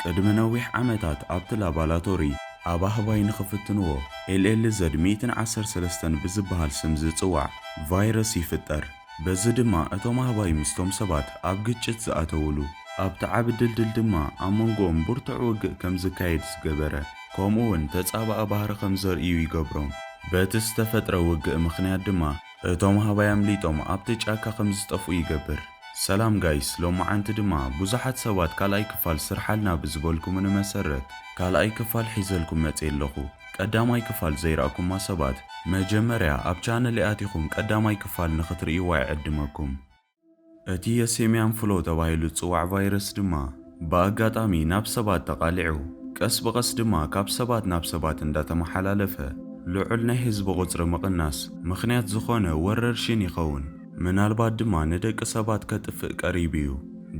ቅድሚ ነዊሕ ዓመታት ኣብቲ ላባላቶሪ ኣብ ኣህባይ ንኽፍትንዎ LLZ ሚእትን ዓሰርተ ሰለስተን ብዝበሃል ስም ዝጽዋዕ ቫይረስ ይፍጠር። በዚ ድማ እቶም ኣህባይ ምስቶም ሰባት ኣብ ግጭት ዝኣተውሉ፣ ኣብቲ ዓቢ ድልድል ድማ ኣብ መንጎኦም ብርቱዕ ውግእ ከም ዝካየድ ዝገበረ፣ ከምኡ'ውን ተጻባኢ ባህሪ ከም ዘርእዩ ይገብሮም። በቲ ዝተፈጥረ ውግእ ምኽንያት ድማ እቶም ሃባይ ኣምሊጦም ኣብቲ ጫካ ከም ዝጠፍኡ ይገብር። ሰላም ጋይስ ሎማዓንቲ ድማ ቡዙሓት ሰባት ካልኣይ ክፋል ስርሓልና ብዝበልኩምኒ መሰረት ካልኣይ ክፋል ሒዘልኩም መጼ ኣለኹ ቀዳማይ ክፋል ዘይረኣኩማ ሰባት መጀመርያ ኣብ ቻነለይ ኣቲኹም ቀዳማይ ክፋል ንኽትርእይዋ ይዕድመኩም። እቲ የሴምያን ፍሎ ተባሂሉ ዝጽዋዕ ቫይረስ ድማ ብኣጋጣሚ ናብ ሰባት ተቓሊዑ ቀስ ብቐስ ድማ ካብ ሰባት ናብ ሰባት እንዳተመሓላለፈ ልዑል ናይ ህዝቢ ቁጽሪ ምቕናስ ምኽንያት ዝኾነ ወረርሽን ይኸውን። ምናልባት ድማ ንደቂ ሰባት ከጥፍእ ቀሪቡ እዩ።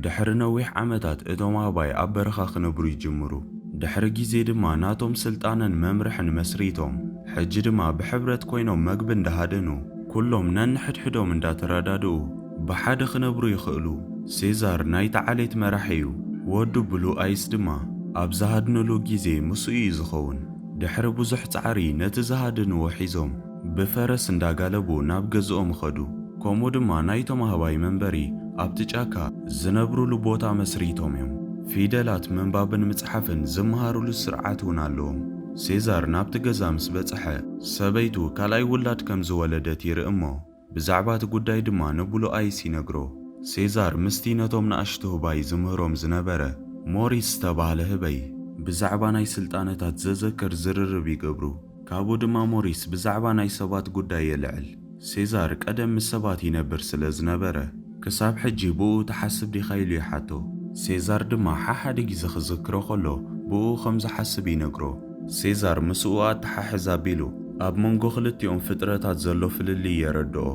ድሕሪ ነዊሕ ዓመታት እቶም ኣህባይ ኣብ በረኻ ክነብሩ ይጅምሩ። ድሕሪ ግዜ ድማ ናቶም ስልጣነን መምርሕን መስሪቶም ሕጂ ድማ ብሕብረት ኮይኖም መግቢ እንዳሃደኑ፣ ኩሎም ነንሕድሕዶም እንዳተረዳድኡ ብሓደ ክነብሩ ይኽእሉ። ሴዛር ናይታ ዓሌት መራሒ'ዩ፣ ወዱ ብሉ ኣይስ ድማ ኣብ ዝሃድንሉ ግዜ ምስኡ'ዩ ዝኸውን። ድሕሪ ብዙሕ ጻዕሪ ነቲ ዝሃደንዎ ሒዞም ብፈረስ እንዳጋለቡ ናብ ገዝኦም ኸዱ። ከምኡ ድማ ናይቶም ኣህባይ መንበሪ ኣብቲ ጫካ ዝነብሩሉ ቦታ መስሪቶም'ዮም። ፊደላት ምንባብን ምጽሓፍን ዝመሃሩሉ ስርዓት'ውን ኣለዎም። ሴዛር ናብቲ ገዛ ምስ በጽሐ፣ ሰበይቱ ካልኣይ ውላድ ከም ዝወለደት ይርኢ እሞ፣ ብዛዕባ እቲ ጕዳይ ድማ ንብሉኣይስ ይነግሮ። ሴዛር ምስቲ ነቶም ንኣሽቱ ህባይ ዝምህሮም ዝነበረ ሞሪስ ዝተባህለ ህበይ፣ ብዛዕባ ናይ ስልጣነታት ዘዘክር ዝርርብ ይገብሩ፣ ካብኡ ድማ ሞሪስ ብዛዕባ ናይ ሰባት ጕዳይ የልዕል። ሴዛር ቀደም ምስ ሰባት ይነብር ስለ ዝነበረ፣ ክሳብ ሕጂ ብእኡ ትሓስብ ዲኻ ኢሉ ይሓቶ። ሴዛር ድማ ሓሓደ ግዜ ክዝክሮ ከሎ ብእኡ ከም ዝሓስብ ይነግሮ። ሴዛር ምስኡ ኣተሓሕዝ ኣቢሉ ኣብ መንጎ ክልቲኦም ፍጥረታት ዘሎ ፍልልይ የረድኦ።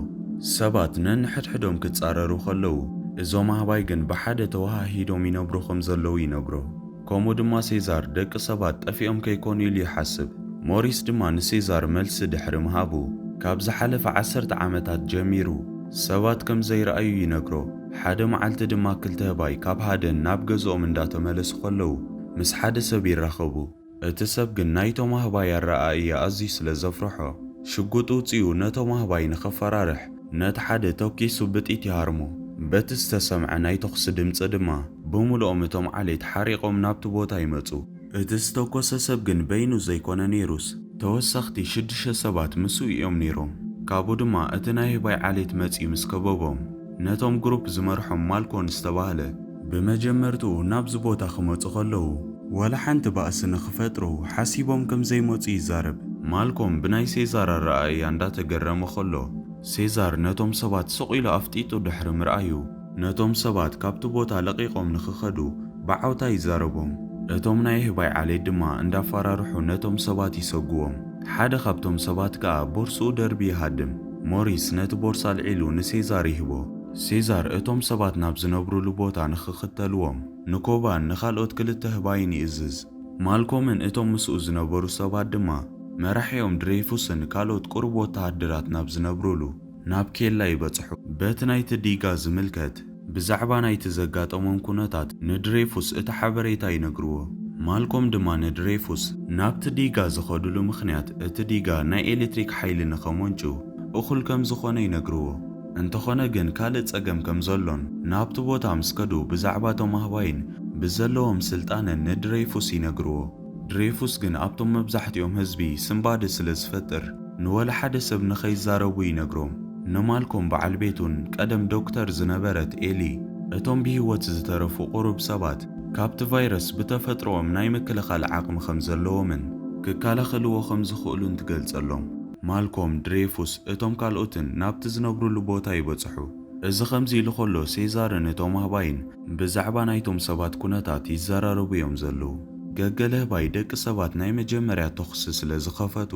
ሰባት ነንሕድሕዶም ክጻረሩ ከለዉ፣ እዞም ኣህባይ ግን ብሓደ ተወሃሂዶም ይነብሩ ከም ዘለዉ ይነግሮ። ከምኡ ድማ ሴዛር ደቂ ሰባት ጠፊኦም ከይኮኑ ኢሉ ይሓስብ። ሞሪስ ድማ ንሴዛር መልሲ ድሕሪ ምሃቡ፣ ካብ ዝሓለፈ ዓሰርተ ዓመታት ጀሚሩ ሰባት ከም ዘይረኣዩ ይነግሮ። ሓደ መዓልቲ ድማ ክልተ ህባይ ካብ ሃደን ናብ ገዝኦም እንዳተመለሱ ከለዉ ምስ ሓደ ሰብ ይራኸቡ። እቲ ሰብ ግን ናይቶም ኣህባይ ኣረኣእያ ኣዝዩ ስለ ዘፍርሖ ሽጉጥ ውጺኡ ነቶም ኣህባይ ንኸፈራርሕ ነቲ ሓደ ተኲሱ ብጥይት ይሃርሞ። በቲ ዝተሰምዐ ናይ ተኹሲ ድምጺ ድማ ብምሉኦም እቶም ዓሌት ሓሪቖም ናብቲ ቦታ ይመጹ። እቲ ዝተኮሰ ሰብ ግን በይኑ ዘይኮነ ነይሩስ ተወሰኽቲ ሽዱሽተ ሰባት ምስኡ እዮም ነይሮም። ካብኡ ድማ እቲ ናይ ህባይ ዓሌት መጺኡ ምስ ከበቦም ነቶም ግሩፕ ዝመርሖም ማልኮን ዝተባህለ፣ ብመጀመርትኡ ናብዚ ቦታ ክመጹ ከለዉ ዋላ ሓንቲ ባእሲ ንኽፈጥሩ ሓሲቦም ከም ዘይመጹ ይዛረብ። ማልኮም ብናይ ሴዛር ኣረኣእያ እንዳተገረመ ከሎ፣ ሴዛር ነቶም ሰባት ስቕ ኢሉ ኣፍጢጡ ድሕሪ ምርኣዩ፣ ነቶም ሰባት ካብቲ ቦታ ለቒቖም ንኽኸዱ ብዓውታ ይዛረቦም። እቶም ናይ ኣህባይ ዓሌት ድማ እንዳፋራርሑ ነቶም ሰባት ይሰጉዎም። ሓደ ካብቶም ሰባት ከኣ ቦርስኡ ደርቢ ይሃድም። ሞሪስ ነቲ ቦርሳ ኣልዒሉ ንሴዛር ይህቦ። ሴዛር እቶም ሰባት ናብ ዝነብሩሉ ቦታ ንኽኽተልዎም ንኮባን ንኻልኦት ክልተ ኣህባይን ይእዝዝ። ማልኮምን እቶም ምስኡ ዝነበሩ ሰባት ድማ መራሒኦም ድሬይፉስን ካልኦት ቁሩብ ወተሃደራት ናብ ዝነብሩሉ ናብ ኬላ ይበጽሑ። በቲ ናይቲ ዲጋ ዝምልከት ብዛዕባ ናይቲ ዘጋጠሞም ኩነታት ንድሬይፉስ እቲ ሓበሬታ ይነግርዎ። ማልኮም ድማ ንድሬይፉስ ናብቲ ዲጋ ዝኸዱሉ ምኽንያት እቲ ዲጋ ናይ ኤሌትሪክ ሓይሊ ንኸመንጩ እኹል ከም ዝኾነ ይነግርዎ። እንተኾነ ግን ካልእ ጸገም ከም ዘሎን፣ ናብቲ ቦታ ምስ ከዱ ብዛዕባ እቶም ኣህባይን ብዘለዎም ስልጣነን ንድሬፉስ ይነግርዎ። ድሬፉስ ግን ኣብቶም መብዛሕትኦም ህዝቢ ስንባደ ስለ ዝፈጥር ንወላ ሓደ ሰብ ንኸይዛረቡ ይነግሮም። ንማልኮም በዓል ቤቱን ቀደም ዶክተር ዝነበረት ኤሊ እቶም ብህይወት ዝተረፉ ቁሩብ ሰባት ካብቲ ቫይረስ ብተፈጥሮኦም ናይ ምክልኻል ዓቕሚ ከም ዘለዎምን ክከላኸልዎ ከም ዝኽእሉን ትገልጸሎም። ማልኮም፣ ድሬፉስ፣ እቶም ካልኦትን ናብቲ ዝነብሩሉ ቦታ ይበጽሑ። እዚ ከምዚ ኢሉ ከሎ ሴዛርን እቶም ኣህባይን ብዛዕባ ናይቶም ሰባት ኩነታት ይዘራረቡ እዮም ዘለዉ። ገገ ለህባይ ደቂ ሰባት ናይ መጀመርያ ተኹሲ ስለ ዝኸፈቱ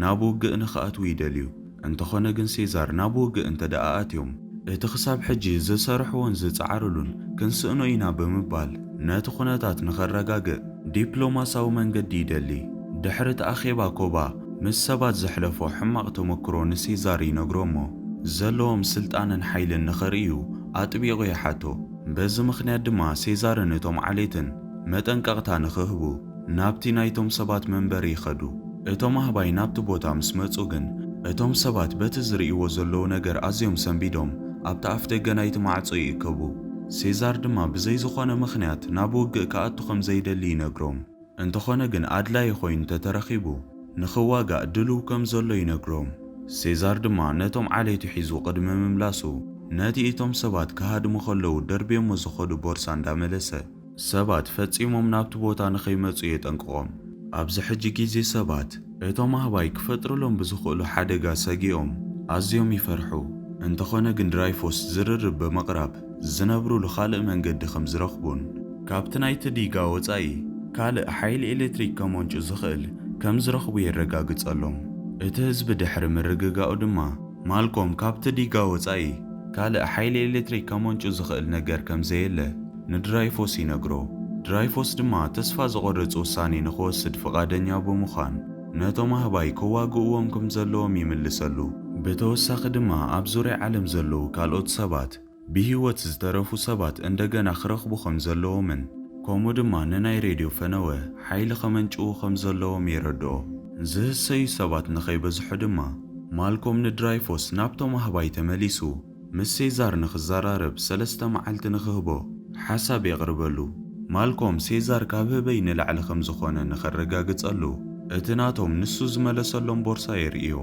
ናብ ውግእ ንኽኣትዉ ይደልዩ። እንተኾነ ግን ሴዛር ናብ ውግእ እንተድኣ ኣትዮም እቲ ክሳብ ሕጂ ዝሰርሕዎን ዝጸዓርሉን ክንስእኖ ኢና ብምባል ነቲ ኩነታት ንኸረጋግእ ዲፕሎማሳዊ መንገዲ ይደሊ። ድሕሪ እቲ ኣኼባ ኮባ ምስ ሰባት ዘሕለፎ ሕማቕ ተመክሮ ንሲዛር ይነግሮ እሞ፣ ዘለዎም ስልጣንን ሓይልን ንኸርእዩ ኣጥቢቑ ይሓቶ። በዚ ምኽንያት ድማ ሴዛርን እቶም ዓሌትን መጠንቀቕታ ንኽህቡ ናብቲ ናይቶም ሰባት መንበሪ ይኸዱ። እቶም ኣህባይ ናብቲ ቦታ ምስ መጹ ግን፣ እቶም ሰባት በቲ ዝርእይዎ ዘለዉ ነገር ኣዝዮም ሰንቢዶም ኣብቲ ኣፍደገ ናይቲ ማዕጾ ይእከቡ። ሴዛር ድማ ብዘይ ዝዀነ ምኽንያት ናብ ውግእ ክኣቱ ከም ዘይደሊ ይነግሮም። እንተኾነ ግን ኣድላዪ ኮይኑ ተተረኺቡ ንኽዋጋእ ድሉው ከም ዘሎ ይነግሮም። ሴዛር ድማ ነቶም ዓሌቱ ሒዙ ቅድሚ ምምላሱ ነቲ እቶም ሰባት ክሃድሙ ከለዉ ደርብዮሞ ዝኸዱ ቦርሳ እንዳመለሰ ሰባት ፈጺሞም ናብቲ ቦታ ንኸይመጹ የጠንቅቖም። ኣብዚ ሕጂ ግዜ ሰባት እቶም ኣህባይ ክፈጥርሎም ብዝኽእሉ ሓደጋ ሰጊኦም ኣዝዮም ይፈርሑ። እንተኾነ ግን ድራይፎስ ዝርርብ ብምቕራብ ዝነብሩሉ ካልእ መንገዲ ከም ዝረኽቡን፣ ካብቲ ናይቲ ዲጋ ወጻኢ ካልእ ሓይሊ ኤሌክትሪክ ከመንጩ ዝኽእል ከም ዝረኽቡ የረጋግጸሎም። እቲ ህዝቢ ድሕሪ ምርግጋኡ ድማ፣ ማልኮም ካብቲ ዲጋ ወጻኢ ካልእ ሓይሊ ኤሌክትሪክ ከመንጩ ዝኽእል ነገር ከም ዘየለ ንድራይፎስ ይነግሮ። ድራይፎስ ድማ ተስፋ ዘቖርጽ ውሳኔ ንኽወስድ ፍቓደኛ ብምዃን፣ ነቶም ኣህባይ ከዋግእዎም ከም ዘለዎም ይምልሰሉ። ብተወሳኺ ድማ ኣብ ዙርያ ዓለም ዘለዉ ካልኦት ሰባት ብህይወት ዝተረፉ ሰባት እንደገና ክረኽቡ ከም ዘለዎምን ከምኡ ድማ ንናይ ሬድዮ ፈነወ ሓይሊ ከመንጭዉ ከም ዘለዎም የረድኦ። ዝህሰዩ ሰባት ንኸይበዝሑ ድማ ማልኮም ንድራይፎስ ናብቶም ኣህባይ ተመሊሱ ምስ ሴዛር ንኽዘራረብ ሰለስተ መዓልቲ ንኽህቦ ሓሳብ የቕርበሉ። ማልኮም ሴዛር ካብ ህበይ ንላዕሊ ከም ዝዀነ ንኸረጋግጸሉ እቲ ናቶም ንሱ ዝመለሰሎም ቦርሳ የርእዮ።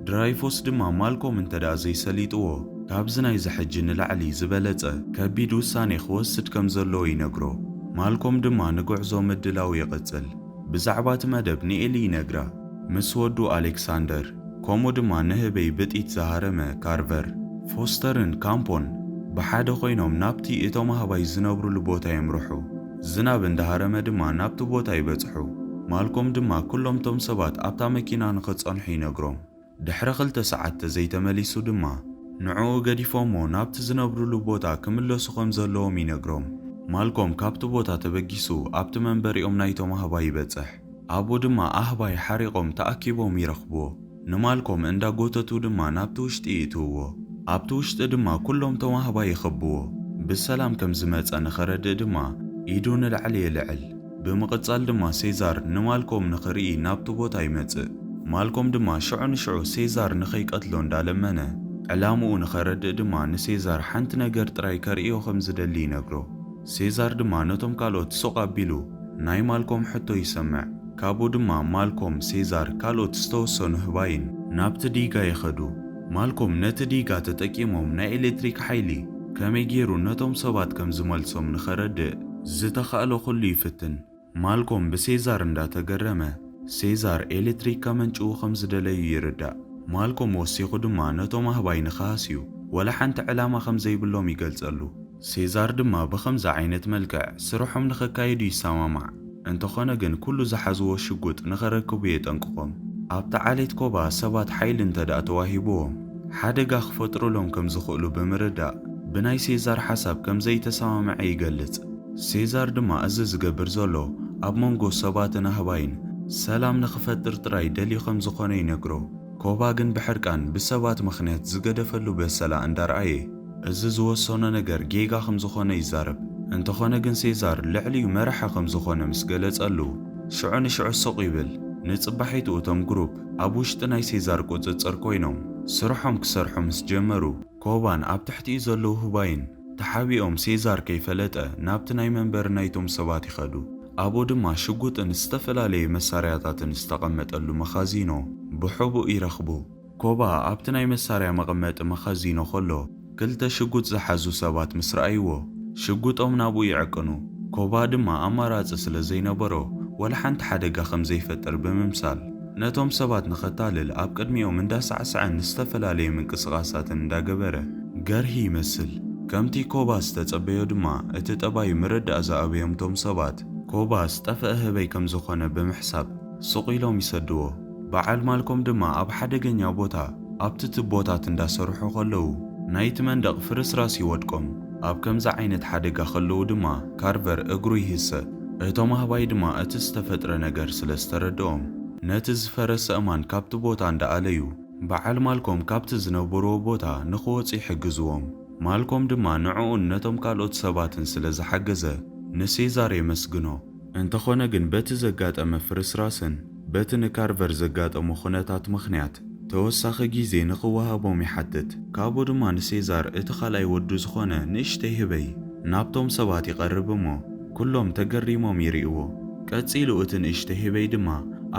ድራይፎስ ድማ ማልኮም እንተድኣ ዘይሰሊጥዎ ካብዚ ናይዚ ሕጂ ንላዕሊ ዝበለጸ ከቢድ ውሳኔ ክወስድ ከም ዘለዎ ይነግሮ። ማልኮም ድማ ንጕዕዞ ምድላዉ ይቕጽል። ብዛዕባ እቲ መደብ ንኤሊ ይነግራ፣ ምስ ወዱ ኣሌክሳንደር፣ ከምኡ ድማ ንህበይ ብጢት ዝሃረመ ካርቨር። ፎስተርን ካምፖን ብሓደ ኮይኖም ናብቲ እቶም ኣህባይ ዝነብሩሉ ቦታ የምርሑ፣ ዝናብ እንዳ ሃረመ ድማ ናብቲ ቦታ ይበጽሑ። ማልኮም ድማ ኩሎም እቶም ሰባት ኣብታ መኪና ንኽጸንሑ ይነግሮም። ድሕሪ ክልተ ሰዓት ተዘይተመሊሱ ድማ ንዕኡ ገዲፎሞ ናብቲ ዝነብርሉ ቦታ ክምለሱ ከም ዘለዎም ይነግሮም። ማልኮም ካብቲ ቦታ ተበጊሱ ኣብቲ መንበሪኦም ናይቶም ኣህባይ ይበጽሕ። ኣብኡ ድማ ኣህባይ ሓሪቖም ተኣኪቦም ይረኽብዎ። ንማልኮም እንዳ ጎተቱ ድማ ናብቲ ውሽጢ ይእትውዎ። ኣብቲ ውሽጢ ድማ ኩሎም እቶም ኣህባይ ይኸብዎ። ብሰላም ከም ዝመጸ ንኸረድእ ድማ ኢዱ ንላዕሊ የልዕል። ብምቕጻል ድማ ሴዛር ንማልኮም ንኽርኢ ናብቲ ቦታ ይመጽእ። ማልኮም ድማ ሽዑ ንሽዑ ሴዛር ንኸይቀትሎ እንዳለመነ፣ ዕላምኡ ንኸረድእ ድማ ንሴዛር ሓንቲ ነገር ጥራይ ከርእዮ ከም ዝደሊ ይነግሮ። ሴዛር ድማ ነቶም ካልኦት ሱቕ ኣቢሉ ናይ ማልኮም ሕቶ ይሰምዕ። ካብኡ ድማ ማልኮም፣ ሴዛር ካልኦት ዝተወሰኑ ህባይን ናብቲ ዲጋ ይኸዱ። ማልኮም ነቲ ዲጋ ተጠቂሞም ናይ ኤሌክትሪክ ሓይሊ ከመይ ጌሩ ነቶም ሰባት ከም ዝመልሶም ንኸረድእ ዝተኻእሎ ኩሉ ይፍትን። ማልኮም ብሴዛር እንዳ ተገረመ ሴዛር ኤሌክትሪክ ከመንጭዉ ከም ዝደለዩ ይርዳእ። ማልኮም ወሲኹ ድማ ነቶም ኣህባይ ንኽሃስዩ ወላ ሓንቲ ዕላማ ከም ዘይብሎም ይገልጸሉ። ሴዛር ድማ ብኸምዚ ዓይነት መልክዕ ስርሖም ንኸካይዱ ይሰማማዕ። እንተኾነ ግን ኩሉ ዝሓዝዎ ሽጉጥ ንኸረክቡ የጠንቅቖም። ኣብቲ ዓሌት ኮባ ሰባት ሓይሊ እንተድኣ ተዋሂብዎም ሓደጋ ክፈጥሩሎም ከም ዝኽእሉ ብምርዳእ ብናይ ሴዛር ሓሳብ ከም ዘይተሰማምዐ ይገልጽ። ሴዛር ድማ እዚ ዝገብር ዘሎ ኣብ መንጎ ሰባትን ኣህባይን ሰላም ንኽፈጥር ጥራይ ደልዩ ከም ዝኾነ ይነግሮ። ኮባ ግን ብሕርቃን ብሰባት ምኽንያት ዝገደፈሉ በሰላ እንዳርኣየ፣ እዚ ዝወሰኖ ነገር ጌጋ ከም ዝኾነ ይዛረብ። እንተኾነ ግን ሴዛር ልዕሊኡ መራሒ ከም ዝኾነ ምስ ገለጸሉ ሽዑ ንሽዑ ስቕ ይብል። ንጽባሒቱ እቶም ግሩፕ ኣብ ውሽጢ ናይ ሴዛር ቁጽጽር ኮይኖም ስርሖም ክሰርሑ ምስ ጀመሩ ኮባን ኣብ ትሕቲኡ ዘለዉ ህባይን ተሓቢኦም ሴዛር ከይፈለጠ ናብቲ ናይ መንበሪ ናይቶም ሰባት ይኸዱ። ኣብኡ ድማ ሽጉጥን ዝተፈላለዩ መሳርያታትን ዝተቐመጠሉ መኻዚኖ ብሕቡእ ይረኽቡ። ኮባ ኣብቲ ናይ መሳርያ መቐመጢ መኸዚኖ ከሎ ክልተ ሽጉጥ ዝሓዙ ሰባት ምስ ረኣይዎ ሽጉጦም ናብኡ ይዕቅኑ። ኮባ ድማ ኣማራጺ ስለ ዘይነበሮ ወላ ሓንቲ ሓደጋ ከም ዘይፈጥር ብምምሳል ነቶም ሰባት ንኸታልል ኣብ ቅድሚኦም እንዳሳዕሰዐን ዝተፈላለዩ ምንቅስቓሳትን እንዳገበረ ገርሂ ይመስል። ከምቲ ኮባ ዝተጸበዮ ድማ እቲ ጠባዩ ምርዳእ ዝኣበዮም እቶም ሰባት ኮባ ዝጠፈኣ ህበይ ከም ዝኾነ ብምሕሳብ ሱቕ ኢሎም ይሰድዎ። በዓል ማልኮም ድማ ኣብ ሓደገኛ ቦታ ኣብቲ ትቦታት እንዳሰርሑ ከለዉ ናይቲ መንደቕ ፍርስራስ ይወድቆም። ኣብ ከምዚ ዓይነት ሓደጋ ከለዉ ድማ ካርቨር እግሩ ይህሰ። እቶም ኣህባይ ድማ እቲ ዝተፈጥረ ነገር ስለ ዝተረደኦም ነቲ ዝፈረሰ እማን ካብቲ ቦታ እንዳኣለዩ በዓል ማልኮም ካብቲ ዝነበርዎ ቦታ ንኽወጹ ይሕግዝዎም። ማልኮም ድማ ንዕኡን ነቶም ካልኦት ሰባትን ስለ ዝሓገዘ ንሴዛር የመስግኖ። እንተኾነ ግን በቲ ዘጋጠመ ፍርስራስን በቲ ንካርቨር ዘጋጠሞ ኩነታት ምኽንያት ተወሳኺ ጊዜ ንኽወሃቦም ይሓትት። ካብኡ ድማ ንሴዛር እቲ ካልኣይ ወዱ ዝኾነ ንእሽተይ ህበይ ናብቶም ሰባት ይቐርብ እሞ ኩሎም ተገሪሞም ይሪእዎ። ቀፂሉ እቲ ንእሽተይ ህበይ ድማ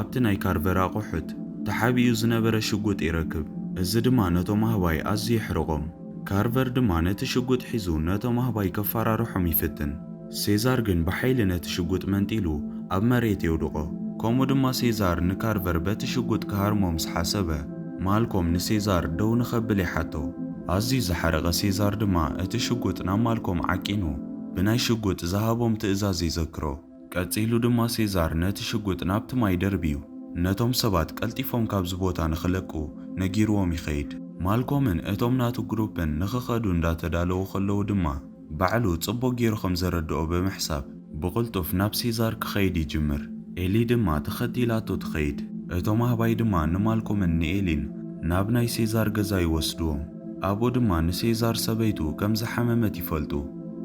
ኣብቲ ናይ ካርቨር ኣቑሑት ተሓቢኡ ዝነበረ ሽጉጥ ይረክብ። እዚ ድማ ነቶም ኣህባይ ኣዝዩ የሕርቖም። ካርቨር ድማ ነቲ ሽጉጥ ሒዙ ነቶም ኣህባይ ከፋራርሖም ይፍትን። ሴዛር ግን ብሓይሊ ነቲ ሽጉጥ መንጢሉ ኣብ መሬት የውድቖ። ከምኡ ድማ ሴዛር ንካርቨር በቲ ሽጉጥ ክሃርሞ ምስ ሓሰበ፣ ማልኮም ንሴዛር ደው ንኸብል ይሓቶ። ኣዝዩ ዝሓረቐ ሴዛር ድማ እቲ ሽጉጥ ናብ ማልኮም ዓቂኑ ብናይ ሽጉጥ ዝሃቦም ትእዛዝ ይዘክሮ። ቀጺሉ ድማ ሴዛር ነቲ ሽጉጥ ናብቲ ማይ ደርብዩ ነቶም ሰባት ቀልጢፎም ካብዚ ቦታ ንኽለቁ ነጊርዎም ይኸይድ። ማልኮምን እቶም ናቱ ግሩፕን ንኽኸዱ እንዳተዳለዉ ከለዉ ድማ፣ ባዕሉ ጽቡቕ ገይሩ ኸም ዘረድኦ ብምሕሳብ፣ ብቕልጡፍ ናብ ሴዛር ኪኸይድ ይጅምር። ኤሊ ድማ ተኸቲላቶ ትኸይድ። እቶም ኣህባይ ድማ ንማልኮምን ንኤሊን ናብ ናይ ሴዛር ገዛ ይወስድዎም። ኣብኡ ድማ ንሴዛር ሰበይቱ ከም ዝሓመመት ይፈልጡ።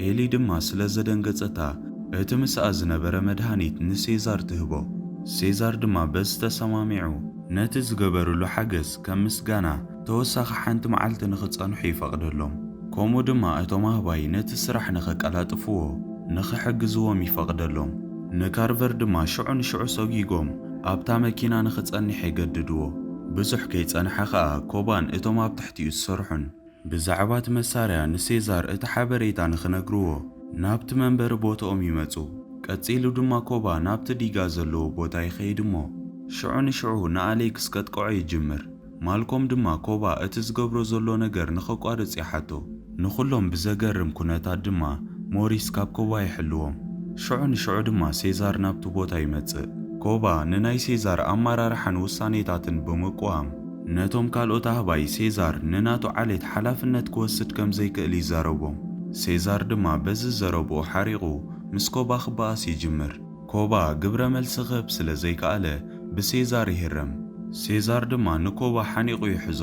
ኤሊ ድማ ስለ ዘደንገጸታ፣ እቲ ምስኣ ዝነበረ መድሃኒት ንሴዛር ትህቦ። ሴዛር ድማ በዚ ተሰማሚዑ፣ ነቲ ዝገበርሉ ሓገዝ ከም ምስጋና፣ ተወሳኺ ሓንቲ መዓልቲ ንኽጸንሑ ይፈቕደሎም። ከምኡ ድማ እቶም ኣህባይ ነቲ ስራሕ ንኸቀላጥፍዎ ንኽሕግዝዎም ይፈቕደሎም። ንካርቨር ድማ ሽዑ ንሽዑ ሰጒጎም ኣብታ መኪና ንኽጸንሕ የገድድዎ። ብዙሕ ከይጸንሐ ኸኣ ኮባን እቶም ኣብ ትሕቲኡ ዝሰርሑን ብዛዕባ እቲ መሳርያ ንሴዛር እቲ ሓበሬታ ንኽነግርዎ ናብቲ መንበሪ ቦትኦም ይመጹ። ቀጺሉ ድማ ኮባ ናብቲ ዲጋ ዘለዎ ቦታ ይኸይድ እሞ ሽዑ ንሽዑ ንኣሌክስ ከጥቅዖ ይጅምር። ማልኮም ድማ ኮባ እቲ ዝገብሮ ዘሎ ነገር ንኸቋርጽ ይሓቶ። ንኹሎም ብዘገርም ኩነታት ድማ ሞሪስ ካብ ኮባ ይሕልዎም። ሽዑ ንሽዑ ድማ ሴዛር ናብቲ ቦታ ይመጽእ። ኮባ ንናይ ሴዛር ኣመራርሓን ውሳኔታትን ብምቅዋም፣ ነቶም ካልኦት ኣህባይ ሴዛር ንናቱ ዓሌት ሓላፍነት ክወስድ ከም ዘይክእል ይዛረቦም። ሴዛር ድማ በዚ ዘረብኡ ሓሪቑ ምስ ኮባ ክበኣስ ይጅምር። ኮባ ግብረ መልሲ ክህብ ስለ ዘይከኣለ ብሴዛር ይህረም። ሴዛር ድማ ንኮባ ሓኒቑ ይሕዞ።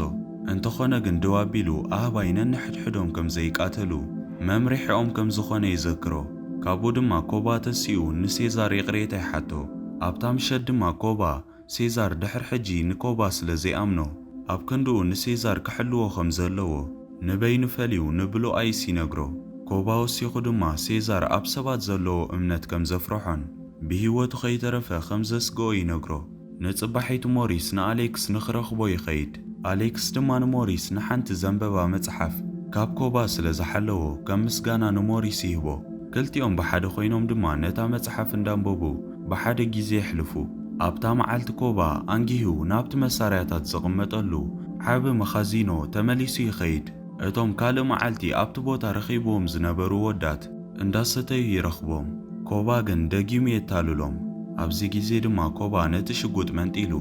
እንተኾነ ግን ደው ኣቢሉ ኣህባይ ነንሕድሕዶም ከም ዘይቃተሉ መምርሒኦም ከም ዝኾነ ይዘክሮ። ካብኡ ድማ ኮባ ተሲኡ ንሴዛር ይቕሬታ ይሓቶ። ኣብታ ምሸት ድማ ኮባ ሴዛር ድሕር ሕጂ ንኮባ ስለ ዘይኣምኖ ኣብ ክንድኡ ንሴዛር ክሕልዎ ከም ዘለዎ ንበይኑ ፈልዩ ንብሎኣይስ ይነግሮ። ኮባ ወሲኹ ድማ ሴዛር ኣብ ሰባት ዘለዎ እምነት ከም ዘፍረሖን ብህይወቱ ከይተረፈ ከም ዘስግኦ ይነግሮ። ንጽባሒቱ ሞሪስ ንኣሌክስ ንክረኽቦ ይኸይድ። ኣሌክስ ድማ ንሞሪስ ንሓንቲ ዘንበባ መጽሓፍ ካብ ኮባ ስለ ዝሓለዎ ከም ምስጋና ንሞሪስ ይህቦ። ክልቲኦም ብሓደ ኮይኖም ድማ ነታ መጽሓፍ እንዳንበቡ ብሓደ ግዜ የሕልፉ። ኣብታ መዓልቲ ኮባ ኣንጊሁ ናብቲ መሳርያታት ዝቕመጠሉ ዓቢ መኻዚኖ ተመሊሱ ይኸይድ። እቶም ካልእ መዓልቲ ኣብቲ ቦታ ረኺብዎም ዝነበሩ ወዳት እንዳሰተዩ ይረኽቦም። ኮባ ግን ደጊሙ የታልሎም። ኣብዚ ግዜ ድማ ኮባ ነቲ ሽጉጥ መንጢሉ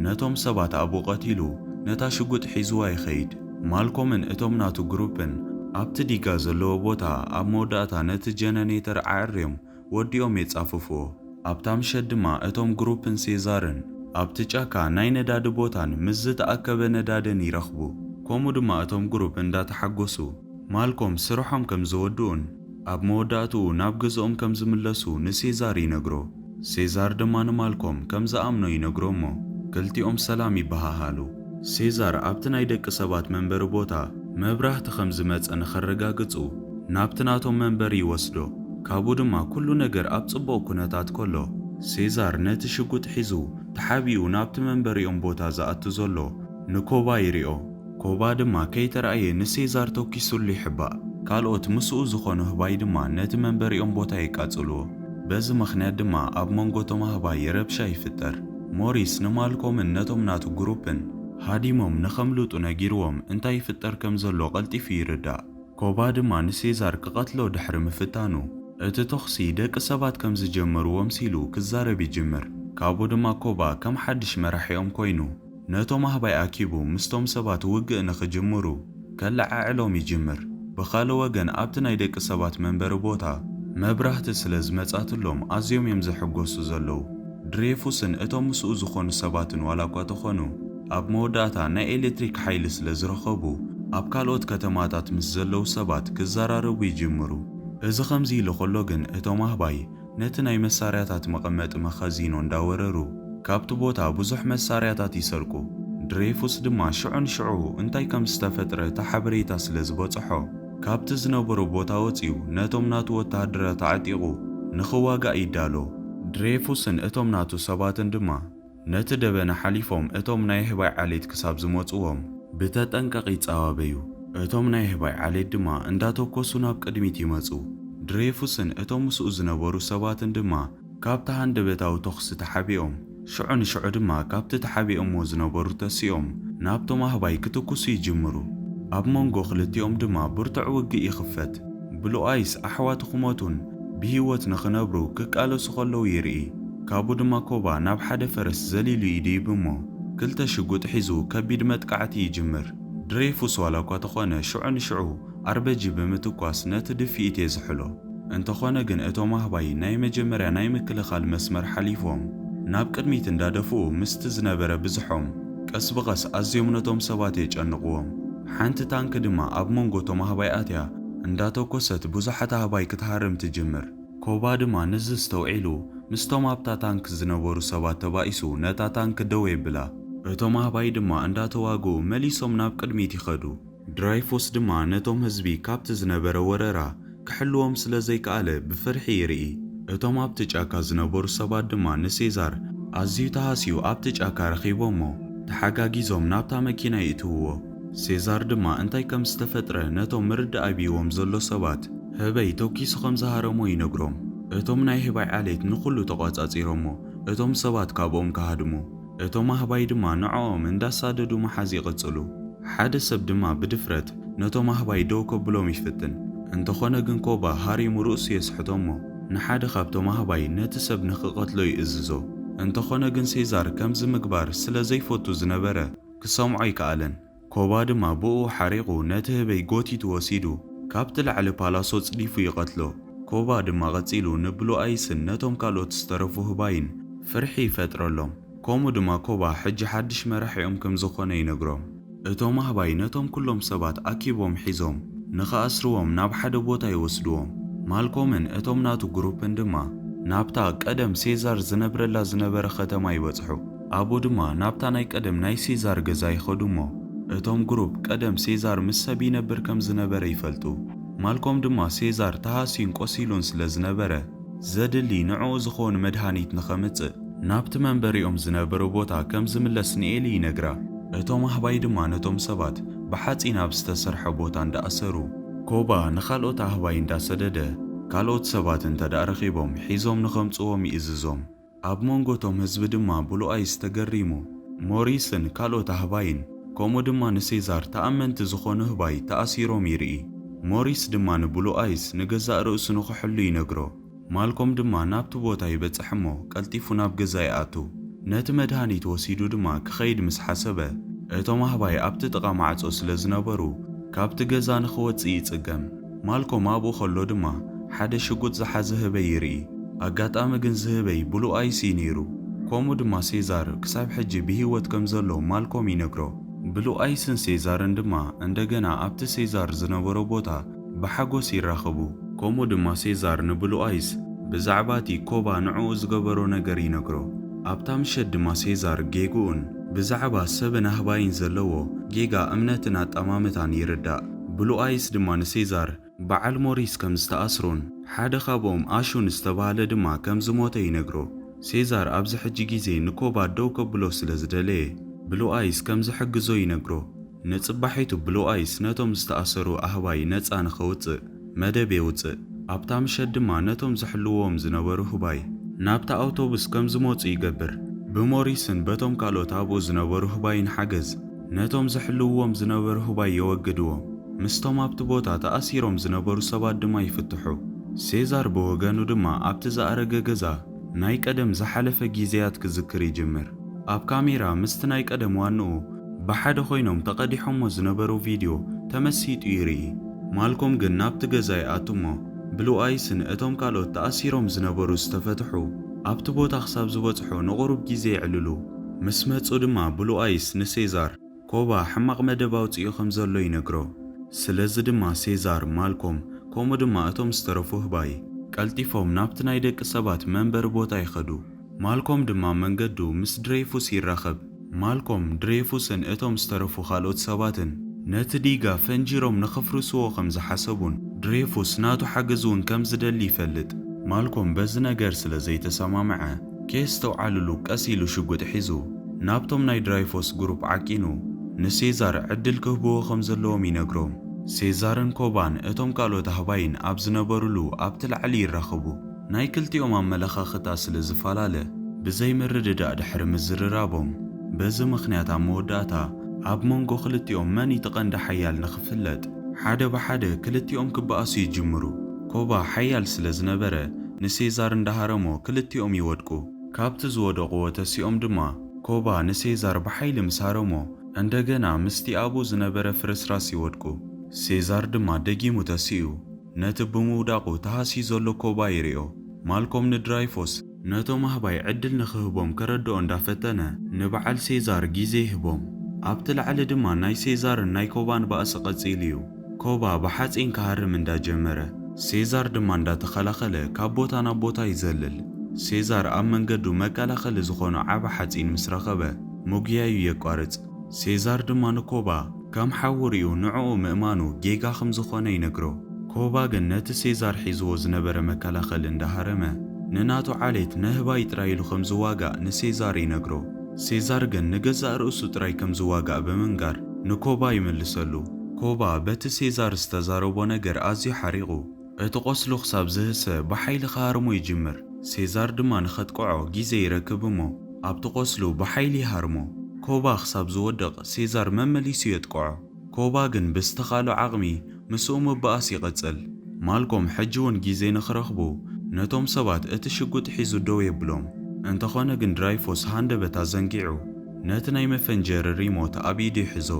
ነቶም ሰባት ኣብኡ ቀቲሉ ነታ ሽጉጥ ሒዝዋ ይኸይድ። ማልኮምን እቶም ናቱ ግሩፕን ኣብቲ ዲጋ ዘለዎ ቦታ ኣብ መወዳእታ ነቲ ጀነኔተር ኣዐርዮም ወዲኦም የጻፍፍዎ። ኣብታ ምሸት ድማ እቶም ግሩፕን ሴዛርን ኣብቲ ጫካ ናይ ነዳዲ ቦታን ምስ ዝተኣከበ ነዳድን ይረኽቡ። ከምኡ ድማ እቶም ግሩፕ እንዳተሓጎሱ ማልኮም ስርሖም ከም ዘወድኡን ኣብ መወዳእትኡ ናብ ገዝኦም ከም ዝምለሱ ንሴዛር ይነግሮ። ሴዛር ድማ ንማልኮም ከም ዝኣምኖ ይነግሮ'ሞ ክልቲኦም ሰላም ይበሃሃሉ። ሴዛር ኣብቲ ናይ ደቂ ሰባት መንበሪ ቦታ መብራህቲ ከም ዝመጸ ንኸረጋግጹ ናብቲ ናቶም መንበሪ ይወስዶ። ካብኡ ድማ ኩሉ ነገር ኣብ ጽቡቕ ኩነታት ከሎ፣ ሴዛር ነቲ ሽጉጥ ሒዙ ተሓቢኡ ናብቲ መንበሪኦም ቦታ ዝኣቱ ዘሎ ንኮባ ይሪኦ። ኮባ ድማ ከይተራእየ ንሴዛር ተኲሱሉ ይሕባእ። ካልኦት ምስኡ ዝኾኑ ኣህባይ ድማ ነቲ መንበሪኦም ቦታ የቃጽልዎ። በዚ ምኽንያት ድማ ኣብ መንጎ እቶም ኣህባይ ረብሻ ይፍጠር። ሞሪስ ንማልኮምን ነቶም ናቱ ግሩፕን። ሃዲሞም ንኸምልጡ ነጊርዎም እንታይ ይፍጠር ከም ዘሎ ቀልጢፉ ይርዳእ። ኮባ ድማ ንሴዛር ክቐትሎ ድሕሪ ምፍታኑ፣ እቲ ተኹሲ ደቂ ሰባት ከም ዝጀመርዎ ኣምሲሉ ክዛረብ ይጅምር። ካብኡ ድማ ኮባ ከም ሓድሽ መራሒኦም ኮይኑ ነቶም ኣህባይ ኣኪቡ ምስቶም ሰባት ውግእ ንኽጅምሩ፣ ከለዓዕሎም ይጅምር። ብኻልእ ወገን ኣብቲ ናይ ደቂ ሰባት መንበሪ ቦታ መብራህቲ ስለ ዝመጻትሎም ኣዝዮም እዮም ዝሕጎሱ ዘለዉ። ድሬፉስን እቶም ምስኡ ዝኾኑ ሰባትን ዋላኳ ተኾኑ ኣብ መወዳእታ ናይ ኤለትሪክ ሓይሊ ስለ ዝረኸቡ ኣብ ካልኦት ከተማታት ምስ ዘለዉ ሰባት ክዘራረቡ ይጅምሩ። እዚ ከምዚ ኢሉ ከሎ ግን እቶም ኣህባይ ነቲ ናይ መሳርያታት መቐመጢ መኸዚኖ እንዳወረሩ ካብቲ ቦታ ብዙሕ መሳርያታት ይሰርቁ። ድሬፉስ ድማ ሽዑ ንሽዑ እንታይ ከም ዝተፈጥረ እቲ ሓበሬታ ስለ ዝበጸሖ ካብቲ ዝነበሮ ቦታ ወጺኡ ነቶም ናቱ ወተሃደራት ኣዕጢቑ ንኽዋጋእ ይዳሎ። ድሬፉስን እቶም ናቱ ሰባትን ድማ ነቲ ደበና ሓሊፎም እቶም ናይ ኣህባይ ዓሌት ክሳብ ዝመጹዎም። ብተጠንቀቕ ይጻባበዩ። እቶም ናይ ኣህባይ ዓሌት ድማ እንዳተኮሱ ናብ ቅድሚት ይመጹ። ድሬፉስን እቶም ምስኡ ዝነበሩ ሰባትን ድማ ካብቲ ሃንደበታዊ ተኹሲ ተሓቢኦም። ሽዑ ንሽዑ ድማ ካብቲ ተሓቢኦምዎ ዝነበሩ ተሲኦም ናብቶም ኣህባይ ክትኩሱ ይጅምሩ። ኣብ መንጎ ክልቲኦም ድማ ብርቱዕ ውግእ ይኽፈት። ብሉኣይስ ኣሕዋቱ ክሞቱን ብህይወት ንኽነብሩ ክቃለሱ ከለዉ ይርኢ። ካብኡ ድማ ኮባ ናብ ሓደ ፈረስ ዘሊሉ ይድይብ እሞ ክልተ ሽጉጥ ሒዙ ከቢድ መጥቃዕቲ ይጅምር። ድሬፉስ ዋላ እኳ ተኾነ ሽዑ ንሽዑ ኣርበጂ ብምትኳስ ነቲ ድፍኢት የዝሕሎ። እንተኾነ ግን እቶም ኣህባይ ናይ መጀመርያ ናይ ምክልኻል መስመር ሓሊፎም ናብ ቅድሚት እንዳደፍኡ ምስቲ ዝነበረ ብዝሖም ቀስ ብቐስ ኣዝዮም ነቶም ሰባት የጨንቕዎም። ሓንቲ ታንኪ ድማ ኣብ መንጎ እቶም ኣህባይ ኣትያ እንዳተኮሰት ብዙሓት ኣህባይ ክትሃርም ትጅምር። ኮባ ድማ ንዚ ኣስተውዒሉ ምስቶም ኣብታ ታንክ ዝነበሩ ሰባት ተባኢሱ ነታ ታንክ ደው የብላ። እቶም ኣህባይ ድማ እንዳተዋግኡ መሊሶም ናብ ቅድሚት ይኸዱ። ድራይፉስ ድማ ነቶም ህዝቢ ካብቲ ዝነበረ ወረራ ክሕልዎም ስለ ዘይከኣለ ብፍርሒ ይርኢ። እቶም ኣብቲ ጫካ ዝነበሩ ሰባት ድማ ንሴዛር ኣዝዩ ተሃስዩ ኣብቲ ጫካ ረኺቦሞ ተሓጋጊዞም ናብታ መኪና ይእትውዎ። ሴዛር ድማ እንታይ ከም ዝተፈጥረ ነቶም ምርዳእ ኣቢይዎም ዘሎ ሰባት ህበይ ተኪሱ ከም ዝሃረሞ ይነግሮም። እቶም ናይ ህባይ ዓሌት ንኹሉ ተቋጻጺሮሞ እቶም ሰባት ካብኦም ክሃድሙ እቶም ኣህባይ ድማ ንዕኦም እንዳሳደዱ ምሓዝ ይቕጽሉ። ሓደ ሰብ ድማ ብድፍረት ነቶም ኣህባይ ደው ከብሎም ይፍትን እንተኾነ ግን ኮባ ሃሪሙ ርእሱ የስሕቶሞ ንሓደ ካብቶም ኣህባይ ነቲ ሰብ ንኽቀትሎ ይእዝዞ። እንተኾነ ግን ሴዛር ከምዚ ምግባር ስለ ዘይፈቱ ዝነበረ ክሰምዖ ኣይከኣለን። ኮባ ድማ ብእኡ ሓሪቑ ነቲ ህበይ ጎቲቱ ወሲዱ ካብቲ ላዕሊ ፓላሶ ጽዲፉ ይቐትሎ። ኮባ ድማ ቀጺሉ ንብሉ ኣይስን ነቶም ካልኦት ዝተረፉ ህባይን ፍርሒ ይፈጥረሎም። ከምኡ ድማ ኮባ ሕጂ ሓድሽ መራሒኦም ከም ዝዀነ ይነግሮም። እቶም ኣህባይ ነቶም ኵሎም ሰባት ኣኪቦም ሒዞም ንኽኣስርዎም ናብ ሓደ ቦታ ይወስድዎም። ማልኮምን እቶም ናቱ ግሩፕን ድማ ናብታ ቀደም ሴዛር ዝነብረላ ዝነበረ ኸተማ ይበጽሑ። ኣብኡ ድማ ናብታ ናይ ቀደም ናይ ሴዛር ገዛ ይኸዱ እሞ እቶም ግሩፕ ቀደም ሴዛር ምስ ሰብ ይነብር ከም ዝነበረ ይፈልጡ። ማልኮም ድማ ሴዛር ተሃስዩን ቆሲሉን ስለ ዝነበረ ዘድሊ ንዕኡ ዝኸውን መድሃኒት ንኸምጽእ ናብቲ መንበሪኦም ዝነበሩ ቦታ ከም ዝምለስ ንኤሊ ይነግራ። እቶም ኣህባይ ድማ ነቶም ሰባት ብሓጺን ኣብ ዝተሰርሐ ቦታ እንዳ ኣሰሩ ኮባ ንኻልኦት ኣህባይ እንዳ ሰደደ ካልኦት ሰባት እንተድኣ ረኺቦም ሒዞም ንኸምጽዎም ይእዝዞም። ኣብ መንጎ እቶም ህዝቢ ድማ ብሉኣይስ ተገሪሙ። ሞሪስን ካልኦት ኣህባይን፣ ከምኡ ድማ ንሴዛር ተኣመንቲ ዝኾኑ ኣህባይ ተኣሲሮም ይርኢ። ሞሪስ ድማ ንብሉኣይስ ንገዛእ ርእሱ ንኽሕሉ ይነግሮ። ማልኮም ድማ ናብቲ ቦታ ይበጽሕ እሞ ቀልጢፉ ናብ ገዛ ይኣቱ። ነቲ መድሃኒት ወሲዱ ድማ ክኸይድ ምስ ሓሰበ፣ እቶም ኣህባይ ኣብቲ ጥቓ ማዕጾ ስለ ዝነበሩ ካብቲ ገዛ ንኽወጽእ ይጽገም። ማልኮም ኣብኡ ከሎ ድማ ሓደ ሽጉጥ ዝሓዘ ህበይ ይርኢ። ኣጋጣሚ ግን እዚ ህበይ ብሉ ኣይ ሲ ነይሩ። ከምኡ ድማ ሴዛር ክሳብ ሕጂ ብህይወት ከም ዘሎ ማልኮም ይነግሮ። ብሉ ኣይስን ሴዛርን ድማ እንደገና ኣብቲ ሴዛር ዝነበሮ ቦታ ብሓጎስ ይራኸቡ። ከምኡ ድማ ሴዛር ንብሉ ኣይስ ብዛዕባ እቲ ኮባ ንዕኡ ዝገበሮ ነገር ይነግሮ። ኣብታ ምሸት ድማ ሴዛር ጌግኡን ብዛዕባ ሰብን ኣህባይን ዘለዎ ጌጋ እምነትን ኣጠማምታን ይርዳእ። ብሉኣይስ ድማ ንሴዛር በዓል ሞሪስ ከም ዝተኣስሮን ሓደ ካብኦም ኣሹን ዝተባህለ ድማ ከም ዝሞተ ይነግሮ። ሴዛር ኣብዚ ሕጂ ግዜ ንኮባ ደው ከብሎ ስለ ዝደለየ ብሉኣይስ ከም ዝሕግዞ ይነግሮ። ንጽባሒቱ ብሉኣይስ ነቶም ዝተኣሰሩ ኣህባይ ነጻ ንኸውጽእ መደብ የውጽእ። ኣብታ ምሸት ድማ ነቶም ዝሕልውዎም ዝነበሩ ህባይ ናብታ ኣውቶቡስ ከም ዝመጹ ይገብር። ብሞሪስን በቶም ካልኦት ኣብኡ ዝነበሩ ህባይን ሓገዝ፣ ነቶም ዝሕልውዎም ዝነበሩ ህባይ የወግድዎም፣ ምስቶም ኣብቲ ቦታ ተኣሲሮም ዝነበሩ ሰባት ድማ ይፍትሑ። ሴዛር ብወገኑ ድማ ኣብቲ ዝኣረገ ገዛ ናይ ቀደም ዝሓለፈ ጊዜያት ክዝክር ይጅምር። ኣብ ካሜራ ምስቲ ናይ ቀደም ዋንኡ ብሓደ ኮይኖም ተቐዲሖሞ ዝነበሩ ቪድዮ ተመሲጡ ይርኢ። ማልኮም ግን ናብቲ ገዛ ይኣቱ'ሞ ብሉኣይስን እቶም ካልኦት ተኣሲሮም ዝነበሩ ዝተፈትሑ ኣብቲ ቦታ ክሳብ ዝበጽሑ ንቑሩብ ጊዜ የዕልሉ። ምስ መጹ ድማ ብሉ ኣይስ ንሴዛር ኮባ ሕማቕ መደብ ኣውጺኡ ከም ዘሎ ይነግሮ። ስለዚ ድማ ሴዛር፣ ማልኮም፣ ከምኡ ድማ እቶም ዝተረፉ ህባይ። ቀልጢፎም ናብቲ ናይ ደቂ ሰባት መንበሪ ቦታ ይኸዱ። ማልኮም ድማ መንገዱ ምስ ድሬይፉስ ይራኸብ። ማልኮም፣ ድሬይፉስን እቶም ዝተረፉ ካልኦት ሰባትን ነቲ ዲጋ ፈንጂሮም ንኽፍርስዎ ከም ዝሓሰቡን ድሬይፉስ ናቱ ሓገዝ'ውን ከም ዝደሊ ይፈልጥ። ማልኮም በዚ ነገር ስለ ዘይተሰማምዐ። ከየስተውዓልሉ ቀስ ኢሉ ሽጉጥ ሒዙ ናብቶም ናይ ድራይፎስ ግሩፕ ዓቂኑ ንሴዛር ዕድል ክህብዎ ከም ዘለዎም ይነግሮም። ሴዛርን ኮባን እቶም ካልኦት ኣህባይን ኣብ ዝነበሩሉ ኣብቲ ላዕሊ ይራኸቡ። ናይ ክልቲኦም ኣመለኻኽታ ስለ ዝፈላለ ብዘይ ምርድዳእ ድሕሪ ምዝርራቦም በዚ ምኽንያት ኣብ መወዳእታ ኣብ መንጎ ክልቲኦም መን እዩ እቲ ቀንዲ ሓያል ንኽፍለጥ ሓደ ብሓደ ክልቲኦም ክበኣሱ ይጅምሩ። ኮባ ሓያል ስለ ዝነበረ ንሴዛር እንዳ ሃረሞ ክልቲኦም ይወድቁ። ካብቲ ዝወደቑዎ ተሲኦም ድማ ኮባ ንሴዛር ብሓይሊ ምስ ሃረሞ እንደገና ምስቲ ኣብኡ ዝነበረ ፍርስራስ ይወድቁ። ሴዛር ድማ ደጊሙ ተሲኡ ነቲ ብምውዳቑ ተሃስዩ ዘሎ ኮባ ይሪኦ። ማልኮም ንድራይፎስ። ነቶም ኣህባይ ዕድል ንኽህቦም ከረድኦ እንዳፈተነ ንበዓል ሴዛር ግዜ ይህቦም። ኣብቲ ላዕሊ ድማ ናይ ሴዛርን ናይ ኮባን ባእሲ ቀጺሉ'ዩ። ኮባ ብሓጺን ክሃርም እንዳጀመረ፣ ሴዛር ድማ እንዳተኸላኸለ ካብ ቦታ ናብ ቦታ ይዘልል። ሴዛር ኣብ መንገዱ መከላኸሊ ዝኾኖ ዓቢ ሓጺን ምስ ረኸበ፣ ምጉያዩ የቋርጽ። ሴዛር ድማ ንኮባ። ከም ሓዉ ርእዩ ንዕኡ ምእማኑ ጌጋ ከም ዝኾነ ይነግሮ። ኮባ ግን ነቲ ሴዛር ሒዝዎ ዝነበረ መከላኸሊ እንዳሃረመ ንናቱ ዓሌት ነህባይ ጥራይ ኢሉ ከም ዝዋጋእ ንሴዛር ይነግሮ። ሴዛር ግን ንገዛእ ርእሱ ጥራይ ከም ዝዋጋእ ብምንጋር ንኮባ ይምልሰሉ። ኮባ በቲ ሴዛር ዝተዛረቦ ነገር ኣዝዩ ሓሪቑ። እቲ ቈስሉ ክሳብ ዝህሰ ብሓይሊ ክሃርሞ ይጅምር። ሴዛር ድማ ንኸጥቅዖ ግዜ ይረክብ እሞ ኣብቲ ቈስሉ ብሓይሊ ይሃርሞ። ኮባ ክሳብ ዝወድቕ ሴዛር መመሊሱ የጥቅዖ። ኮባ ግን ብዝተኻእሎ ዓቕሚ ምስኡ ምባኣስ ይቕጽል። ማልኮም ሕጂ እውን ግዜ ንኽረኽቡ ነቶም ሰባት እቲ ሽጉጥ ሒዙ ደው የብሎም። እንተኾነ ግን ድራይፎስ ሃንደበት ኣዘንጊዑ። ነቲ ናይ መፈንጀሪ ሪሞት ኣብ ኢዱ ይሕዞ።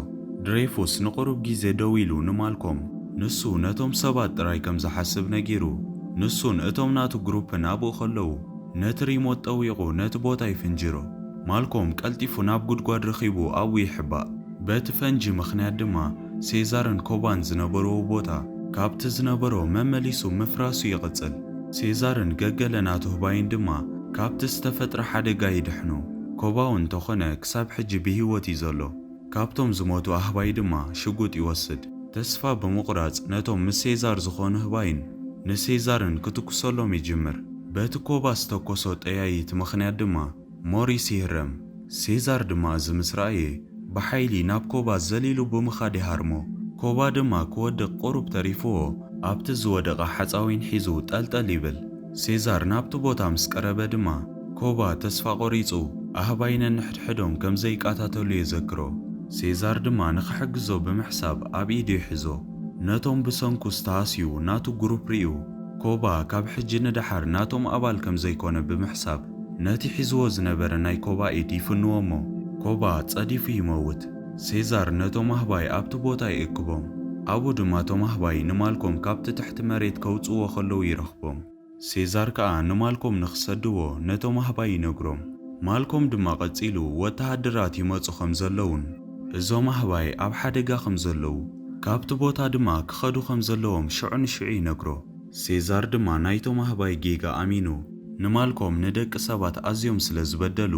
ድሬፉስ ንቕሩብ ግዜ ደው ኢሉ ንማልኮም፣ ንሱ ነቶም ሰባት ጥራይ ከም ዝሓስብ ነጊሩ። ንሱን እቶም ናቱ ግሩፕን ኣብኡ ከለዉ፣ ነቲ ሪሞት ጠዊቑ ነቲ ቦታ ይፍንጅሮ። ማልኮም ቀልጢፉ ናብ ጉድጓድ ረኺቡ ኣብኡ ይሕባእ። በቲ ፈንጂ ምኽንያት ድማ ሴዛርን ኮባን ዝነበርዎ ቦታ ካብቲ ዝነበሮ መመሊሱ ምፍራሱ ይቕጽል። ሴዛርን ገገለ ናቱ ህባይን ድማ ካብቲ ዝተፈጥረ ሓደጋ ይድሕኑ። ኮባው እንተኾነ ክሳብ ሕጂ ብሂወት እዩ ዘሎ። ካብቶም ዝሞቱ ኣህባይ ድማ ሽጉጥ ይወስድ። ተስፋ ብምቑራጽ ነቶም ምስ ሴዛር ዝኾኑ ህባይን ንሴዛርን ክትኩሰሎም ይጅምር። በቲ ኮባ ዝተኮሶ ጠያይት ምኽንያት ድማ ሞሪስ ይህረም። ሴዛር ድማ እዚ ምስ ረኣየ ብሓይሊ ናብ ኮባ ዘሊሉ ብምኻድ ይሃርሞ። ኮባ ድማ ክወድቕ ቁሩብ ተሪፍዎ ኣብቲ ዝወደቐ ሓጻዊን ሒዙ ጠልጠል ይብል። ሴዛር ናብቲ ቦታ ምስ ቀረበ ድማ። ኮባ ተስፋ ቆሪጹ ኣህባይ ነንሕድሕዶም ከም ዘይቃታተሉ የዘክሮ። ሴዛር ድማ ንኽሕግዞ ብምሕሳብ ኣብ ኢዱ ይሕዞ። ነቶም ብሰንኩ ዝተሃስዩ ናቱ ግሩፕ ሪኡ ኮባ ካብ ሕጂ ንደሓር ናቶም ኣባል ከም ዘይኮነ ብምሕሳብ ነቲ ሒዝዎ ዝነበረ ናይ ኮባ ኢድ ይፍንዎ እሞ ኮባ ጸዲፉ ይመውት። ሴዛር ነቶም ኣህባይ ኣብቲ ቦታ ይእክቦም። ኣብኡ ድማ እቶም ኣህባይ ንማልኮም ካብቲ ትሕቲ መሬት ከውጽእዎ ከለዉ ይረኽቦም። ሴዛር ከኣ ንማልኮም ንኽሰድዎ ነቶም ኣህባይ ይነግሮም። ማልኮም ድማ ቀጺሉ ወተሃደራት ይመጹ ከም ዘለዉን እዞም ኣህባይ ኣብ ሓደጋ ከም ዘለዉ ካብቲ ቦታ ድማ ክኸዱ ከም ዘለዎም ሽዑ ንሽዑ ይነግሮ። ሴዛር ድማ ናይቶም ኣህባይ ጌጋ ኣሚኑ ንማልኮም ንደቂ ሰባት ኣዝዮም ስለ ዝበደሉ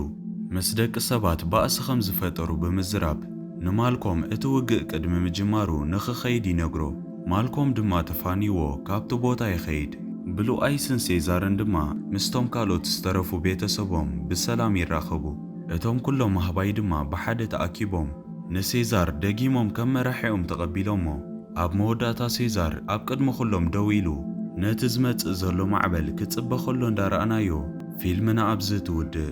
ምስ ደቂ ሰባት ባእሲ ከም ዝፈጠሩ ብምዝራብ ንማልኮም እቲ ውግእ ቅድሚ ምጅማሩ ንኽኸይድ ይነግሮ። ማልኮም ድማ ተፋንይዎ ካብቲ ቦታ ይኸይድ። ብሉኣይስን ሴዛርን ድማ ምስቶም ካልኦት ዝተረፉ ቤተሰቦም ብሰላም ይራኸቡ። እቶም ኩሎም ኣህባይ ድማ ብሓደ ተኣኪቦም ንሴዛር ደጊሞም ከም መራሒኦም ተቐቢሎሞ። ኣብ መወዳእታ ሴዛር ኣብ ቅድሚ ኩሎም ደው ኢሉ ነቲ ዝመጽእ ዘሎ ማዕበል ክጽበ ከሎ እንዳረኣናዮ ፊልምና ኣብዚ ትውድእ።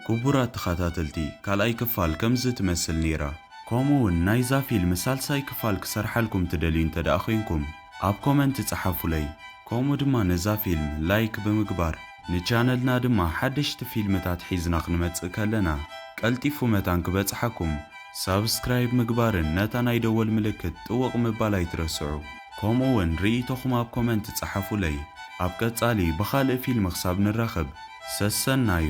ኩቡራት ተኻታተልቲ ካልኣይ ክፋል ከምዚ ትመስል ኔራ። ከምኡ ውን ናይዛ ፊልም ሳልሳይ ክፋል ክሰርሓልኩም ትደልዩ እንተ ደኣ ኮንኩም ኣብ ኮመንት ጸሓፉለይ ከምኡ ድማ ነዛ ፊልም ላይክ ብምግባር ንቻነልና ድማ ሓደሽቲ ፊልምታት ሒዝና ክንመጽእ ከለና ቀልጢፉ መታን ክበጽሓኩም ሳብስክራይብ ምግባርን ነታ ናይ ደወል ምልክት ጥውቕ ምባል ኣይትረስዑ ከምኡ ውን ርእይቶኹም ኣብ ኮመንት ጸሓፉለይ ኣብ ቀጻሊ ብኻልእ ፊልም ክሳብ ንራኸብ ሰሰናዩ።